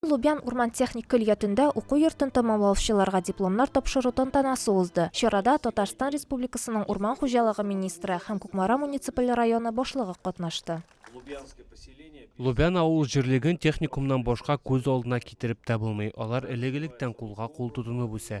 Лубян урман техник көллиятендә уку йортын тәмамлаучыларга дипломнар тапшыру тантанасы узды. Чарада Татарстан Республикасының урман хуҗалыгы министры һәм Кукмара муниципаль районы башлыгы катнашты. Лубян авыл җирлеген техникумнан башка күз алдына китереп тә булмый, алар элек-электән кулга-кул тотынып үсә.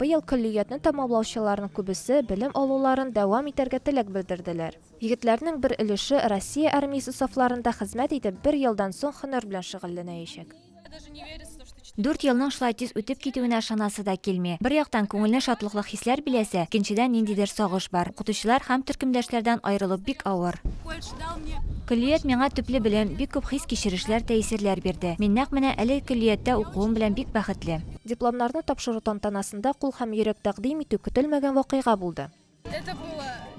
Быел көллиятне тәмамлаучыларның күбесе белем алуларын дәвам итәргә теләк белдерделәр. Егетләрнең бер өлеше Россия армиясе сафларында хезмәт итеп, бер елдан соң һөнәр белән шөгыльләнәячәк. Дүрт елның шулай тиз үтеп китүенә ышанасы да килми. Бер яктан, күңелне шатлыклы хисләр биләсә, икенчедән, ниндидер сагыш бар. Укытучылар һәм төркемдәшләрдән аерылу бик авыр. Көллият миңа төпле белем, бик күп хис-кичерешләр, тәэсирләр бирде. Мин нәкъ менә әлеге көллияттә укуым белән бик бәхетле. Дипломнарны тапшыру тантанасында кул һәм йөрәк тәкъдим итү көтелмәгән вакыйга булды.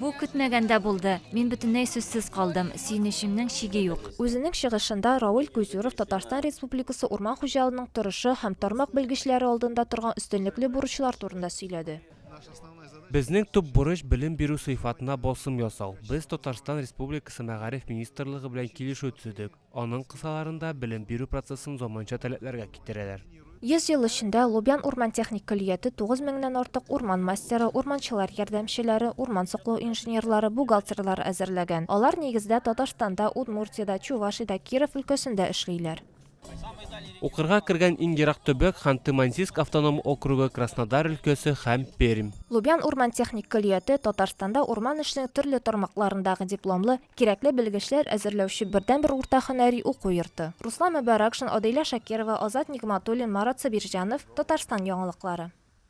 Бу көтмәгәндә булды. Мин бөтенләй сүзсез калдым. Сөенечемнең чиге юк. Үзенең чыгышында Рауль Кузюров Татарстан Республикасы урман хуҗалының торышы һәм тармак белгечләре алдында торган өстенлекле бурычлар турында сөйләде. Безнең төп бурыч, белем бирү сыйфатына басым ясау. Без Татарстан Республикасы Мәгариф министрлыгы белән килешү төзедек. Аның кысаларында белем бирү процессын заманча таләпләргә китерәләр. Йөз ел эчендә Лубян урман техник көллияте тугыз меңнән артык урман мастеры, урманчылар ярдәмчеләре, урман саклау инженерлары, бухгалтерлар әзерләгән. Алар нигездә Татарстанда, Удмуртиядә, Чувашиядә, Киров өлкәсендә эшлиләр. Укырга кергән иң ерак төбәк, Ханты-Мансийск автоном округы, Краснодар өлкәсе һәм Пермь. Лубян урман техник көллияте Татарстанда урман эшенең төрле тармакларындагы дипломлы, Кирәкле белгечләр әзерләүче бердәнбер урта һөнәри уку йорты. Руслан Мөбаракшин, Адыйлә Шакирова, Азат Нигъматуллин, Марат Сабирҗанов, Татарстан яңалыклары.